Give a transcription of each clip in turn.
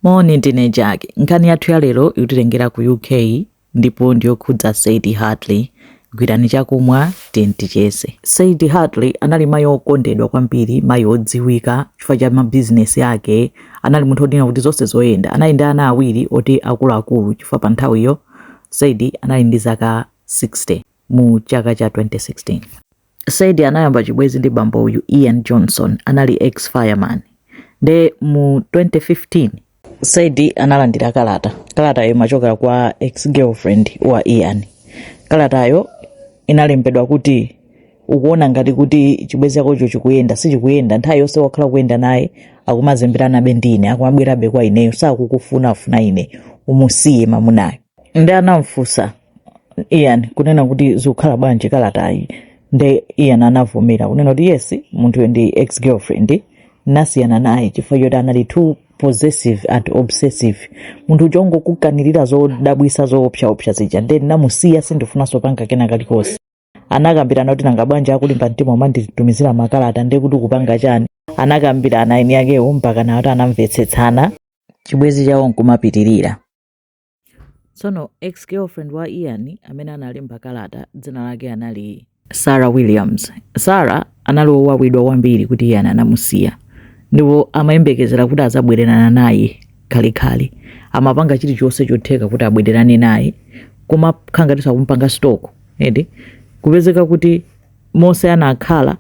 Moni, ndine Jackie. Nkhani yathu ya lero ikutitengera ku UK ndipo ndiyokhudza Sadie Hartley. Gwirani chakumwa tiyeni ticheze. Sadie Hartley anali mayi okondedwa kwambiri, mayi odziwika chifukwa cha mabizinesi ake. Anali munthu wodi kunena kuti zonse zoyenda. Anali ndi ana awiri ati akuluakulu chifukwa pa nthawiyo Sadie anali ndi zaka 60. mu chaka cha 2016 Sadie anayamba chibwezi ndi bambo uyu ian johnston anali ex fireman nde mu 2015 Sadie analandira kalata kalatayo imachokera kwa ex girlfriend wa ian kalatayo inalembedwa kuti ukuona ngati kuti chibwezi chakocho chikuyenda sichikuyenda nthawi yonse wakhala ukuyenda naye akumazemberabe ndi ine akumabwerabe kwa ineyo sakukufuna iwe umusiye mamunayo nde anamfunsa ian kunena kuti zikukhala bwanji kalatayi nde ian anavomera kunena kuti yes munthuyo ndi ex girlfriend ndinasiyana naye chifukwa choti anali too possessive and obsessive munthu uja wongokukanirira zodabwisa zoopsaopsa zija nde ndinamusiya sindifunanso kupanga kena kalikonse anakambirana kuti nanga bwanji akulimba mtima kumanditumizira makalata nde kuti ukupanga chani anakambirana eni akewo mpaka nawo kuti anamvetsetsana chibwezi chawo nkumapitirira Tsono ex-girlfriend wa Ian amene analemba kalata dzina lake anali Sarah Williams. Sarah anali wowawidwa kwambiri kuti Ian anamusiya ndipo amayembekezera kuti adzabwererana naye khalekhale. Amapanga chilichonse chotheka kuti abwererane naye kumakhala ngati akumpanga stalk eti kupezeka kuti monse anakhala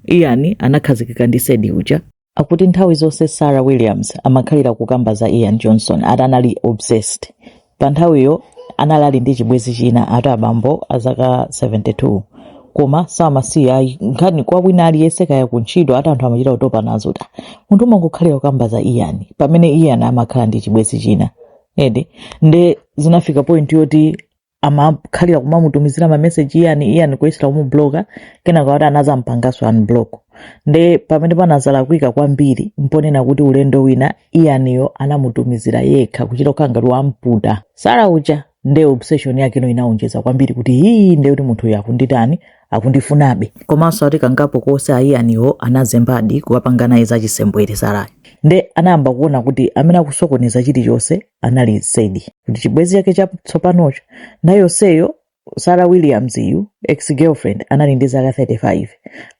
Ian anakhazikika ndi Sadie uja. akuti nthawi zonse sarah williams amakhalira kukamba za ian johnston ati anali obsessed pa nthawiyo anali ali ndi chibwenzi china ati abambo a zaka 72 koma samasiya ayi nkhani kwa wina aliyense kaya kuntchito ati anthu amachita kutopa nazo kuti munthu kumangokhalira kukamba za ian pamene ian amakhala ndi chibwenzi china eti nde zinafika point yoti amakhalira kumamutumizira mameseji Ian Ian kuyesera kumubloka kenaka kuti anazampanganso unblock nde pamene panazalakwika kwambiri mponena kuti ulendo wina Ianiyo anamutumizira yekha kuchita kukhala ngati wamputa Sarah uja nde obsession yake ino inaonjeza kwambiri kuti hii nde kuti munthu uyu akunditani akundifunabe komanso ati kangapo konse a Ianiwo anazembadi kukapanga naye zachisembwere Sarahyo nde anayamba kuona kuti amene akusokoneza chilichonse anali Sadie ati chibwenzi chake chatsopanocho nthawi yonseyo sarah williams uyu ex girlfriend anali ndi zaka 35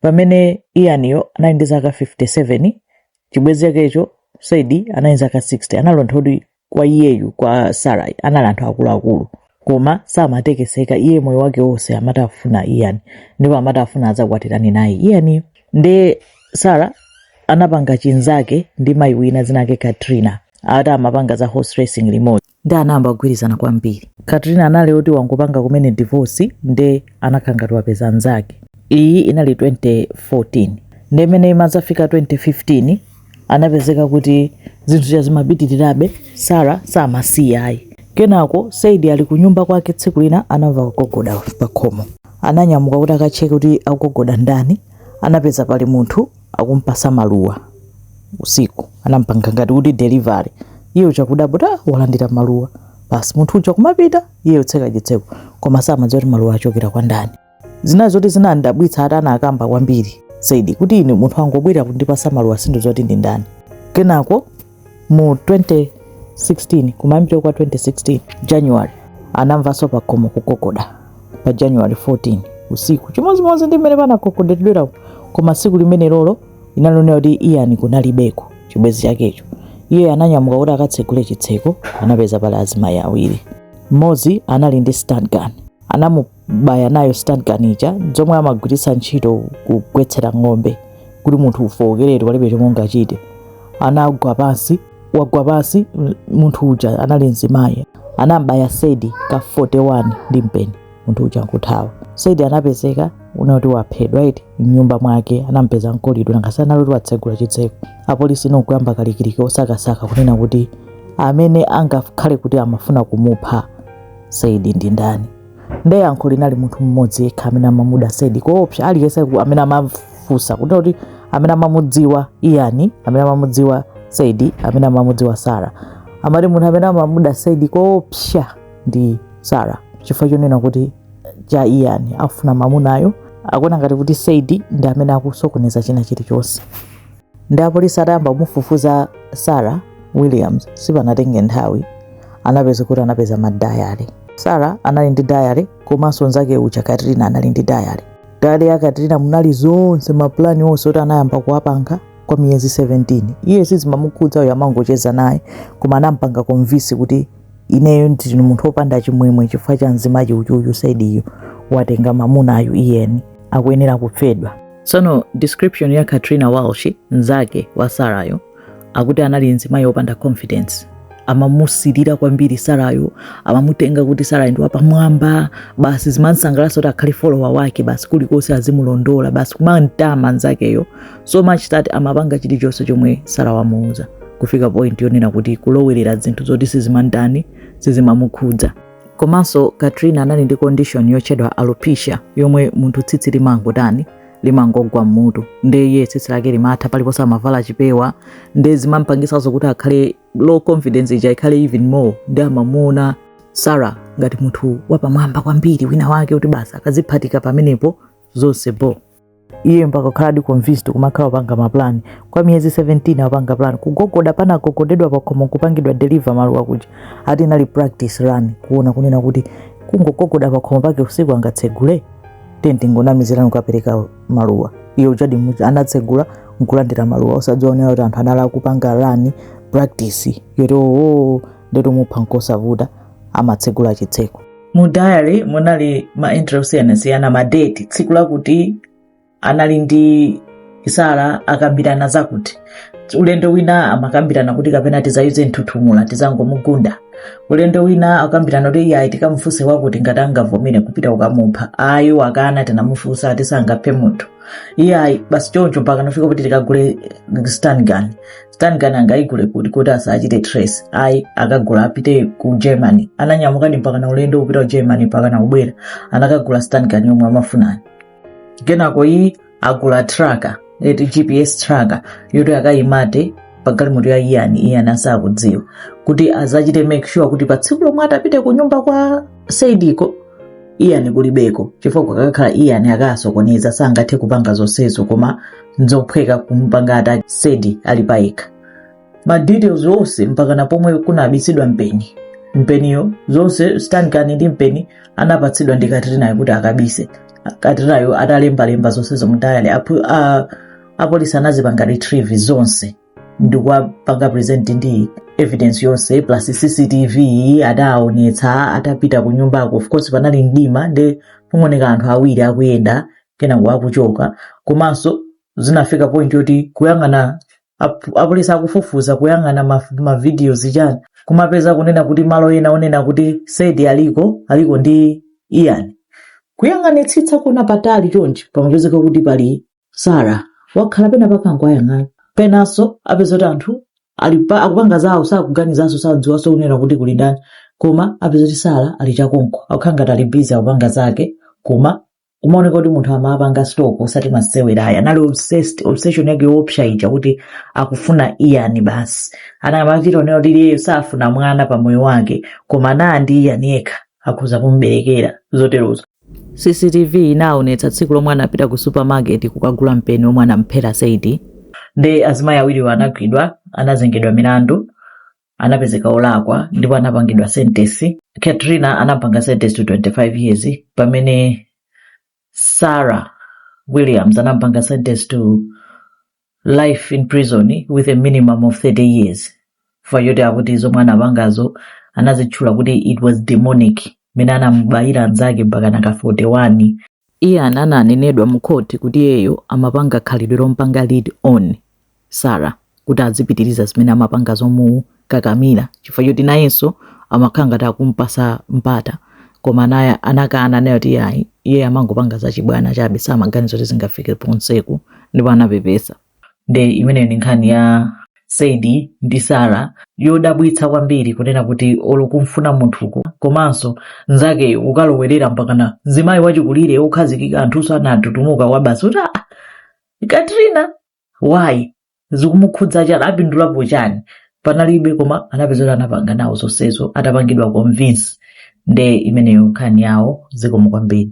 pamene Ianiyo anali ndi zaka 57 chibwenzi chakecho Sadie anali ndi zaka 60 anali anthu oti kwa iyeyu kwa Sarah anali anthu akuluakulu koma samatekeseka iye moyo wake wonse amati afuna Ian ndipo amati afuna adzakwatirane naye Ianiyo nde Sarah anapanga chinzake ndi mzimayi wina dzina lake Katrina ati amapanga za horse racing limodzi nde anayamba kugwirizana kwambiri Katrina anali oti wangopanga kumene divorce nde anakhala ngati wapeza nzake iyi inali 2014 nde mmene imadzafika 2015 anapezeka kuti zinthu zija zimapitirirabe, Sarah samasiya ayi. Kenako Sadie ali kunyumba kwake tsiku lina anamva kugogoda pakhomo. Ananyamuka kuti akacheke kuti akugogoda ndani, anapeza pali munthu akumupatsa maluwa usiku. Anamupanga ngati kuti delivery. Iye uja kudabwa kuti ah, walandira maluwa. Basi munthu uja kumapita, iye kutseka chitseko koma samadziwa kuti maluwa achokera kwa ndani. zina zoti zinandidabwitsa ati anakamba kwambiri Sadie kuti ine munthu wangobwera kundipatsa maluwa sindidziwa kuti ndi ndani kenako mu 2016 kumayambiro kwa 2016 january anamvanso pakhomo kugogoda pa january 14 usiku chimodzimodzi ndi mmene panagogodedwera koma tsiku limenelolo inalonera kuti Ian kunalibeko chibwenzi chakecho iye ananyamuka kuti akatsegule chitseko anapeza pali azimayi awiri mmodzi anali ndi stun gun anamu baya nayo stun gun ija zomwe amagwiritsa ntchito kugwetsera ng'ombe kuti munthu ufowokeretu palibe chomwe ungachite anagwa pansi wagwa pansi m- munthu uja anali mzimayi anambaya Sadie ka 41 ndi mpeni munthu uja nkuthawa Sadie anapezeka kunena kuti waphedwa iti mnyumba mwake anampeza mkolidwe nanga si anali oti watsegula chitseko apolisi nkuyamba kalikiliki osakasaka kunena kuti amene angakhale kuti amafuna kumupha Sadie ndi ndani nde yankho linali munthu mmodzi yekha amene amamuda Sadie koopsa aliyense ku- amene amafunsa kuti kuti amene amamudziwa Ian amene amamudziwa Sadie amene amamudziwa Sarah amati munthu amene amamuda Sadie koopsa ndi Sarah chifukwa chonena kuti cha Ian afuna mamunayo akuona ngati kuti Sadie ndi amene akusokoneza china chilichonse nde apolisi atayamba kumufufuza Sarah Williams sipanatenge nthawi anapeza kuti anapeza madiary Sarah anali ndi diary komanso nzake uja Katrina anali ndi diary diary ya Katrina munali zonse mapulani onse oti anayamba kuwapanga kwa miyezi 17 iye sizimamukhudza iyeyo amangocheza naye koma anampanga convince kuti ineyo ndine munthu opanda chimwemwe chifukwa cha mzimachi ichichi Sadieyo watenga mamunayu Ian akuyenera kuphedwa Tsono description ya Katrina Walsh nzake wa Sarayo akuti anali mzimayi opanda confidence amamusirira kwambiri Sarayo amamutenga kuti Sarayo ndi wapamwamba basi zimansangalatsa kuti akhale follower wake basi kulikonse azimulondola basi kumamtama nzakeyo so much that amapanga chilichonse chomwe Sarah wamuuza kufika point yonena kuti kulowerera zinthu zoti sizimamtani sizimamukhudza komanso katrina anali ndi condition yotchedwa alopecia yomwe munthu tsitsi limangotani limangogwa mmutu nde iye tsitsi lake limatha paliponse amavala chipewa nde zimampangisanso kuti akhale low confidence ija ikhale even more nde amamuona sarah ngati munthu wapamwamba kwambiri wina wake kuti basi akaziphatika pamenepo zonse bo iye mpaka kukhaladi convinced kumakhala opanga maplan kwa miyezi 17 apanga plan kugogoda panagogodedwa pakhomo kupangidwa deliver maluwa kuja ati inali practice run kuona kunena kuti kungogogoda pakhomo pake usiku angatsegule then tingonamizira kukapereka maluwa iye uchadi muja anatsegula nkulandira maluwa osadzaonera kuti anthu anali akupanga run practice yoti oo nde kuti kumupha nkosavuta amatsegula chitseko mu diary munali ma entry osiyanasiyana ma date tsiku lakuti anali ndi sarah akambirana zakuti ulendo wina amakambirana kuti kapena tizayuze mthuthumula tizangomugunda ulendo wina akambirana kuti iye ayi tikamufunse wakuti ngati angavomere kupita kukamupha ayi wakana tinamufunsa ati sangaphe munthu iye ayi basi choncho mpaka nafika kuti tikagule stun gun stun gun angayigule kuti kuti asachite trace ayi akagule apite ku germany ananyamukadi mpaka na ulendo wopita ku germany mpaka na kubwera anakagula stun gun yomwe amafunani kenako ayi agula tracker eti gps tracker yoti akayimate pagalimoto ya ian ian asakudziwa kuti azachite make sure kuti pa tsiku lomwe atapite ku nyumba kwa sadieko ian kulibeko chifukwa kukakhala ian akasokoneza sangathe kupanga zonsezo koma nzophweka kumpanga attack sadie ali payekha ma details onse mpakana pomwe kunabitsidwa mpeni mpeniyo zonse stun gun ndi mpeni anapatsidwa ndi katrinayo kuti akabise katrinayo atalembalemba zonsezo mu diary apu- a- apolisi anazipanga retrieve zonse ndikuwapanga present ndi evidence yonse plus cctv adaonetsa atapita ku nyumbako of course panali mdima nde pongooneka anthu awiri akuyenda kenako akuchoka komanso zinafika point yoti kuyang'ana ap- apolisi akufufuza kuyang'ana ma- mavidiyo zichani kumapeza kunena kuti malo ena onena kuti sadie aliko aliko ndi ian kuyang'anitsitsa kuona patali chonchi pamapezeka kuti pali sarah wakhala pena pake akungowayang'ana penanso apeza kuti anthu ali pa- akupanga zawo sakuganizanso sadziwanso kunena kuti kuli ndani koma apeza kuti sarah ali chakonko akukhala ngati ali busy akupanga zake koma kumaoneka kuti munthu amapanga stalk osati masewera ayi anali obsessed obsession yake yoopsa ija kuti akufuna ian basi amachita kunena kuti iyeyo safuna mwana pa moyo wake koma anaa ndi ian yekha akhoza kumberekera zoterozo cctv inaonetsa tsiku lomwe anapita ku supermarket kukagula mpeni omwe anamphera sadie nde azimayi awiriwo anagwidwa anazengedwa milandu anapezeka olakwa ndipo anapangidwa sentence katrina anampanga sentence to 25 years pamene sarah williams anampanga sentence to life in prison with a minimum of 30 years chifukwa choti akuti zomwe anapangazo anazitchula kuti it was demonic mene anamubayira nzake mpaka naka 41 Iye ananenedwa mu khoti kuti iyeyo amapanga khalidwe lompanga lead on Sarah kuti azipitiliza zimene amapanga zomukakamila chifukwa choti nayenso amakhala ngati akumpasa mpata koma naye anakana ananena kuti iyayi iyeyo amangopanga zachibwana chabe samaganiza kuti zingafike ponseku ndipo anapepesa. nde imeneyo ndi nkhani ya sadie ndi sarah yodabwitsa kwambiri kunena kuti olo kumfuna munthuko komanso nzake ukalowerera mpakana mzimayi wachikulire okhazikika anthuso anatutumuka kwa basi kuti "Ah, katrina why zikumukhudza chani apindulapo chani panalibe koma anapezeka kuti anapanga nawo zonsezo atapangidwa convince nde imeneyo nkhani yawo zikomo kwambiri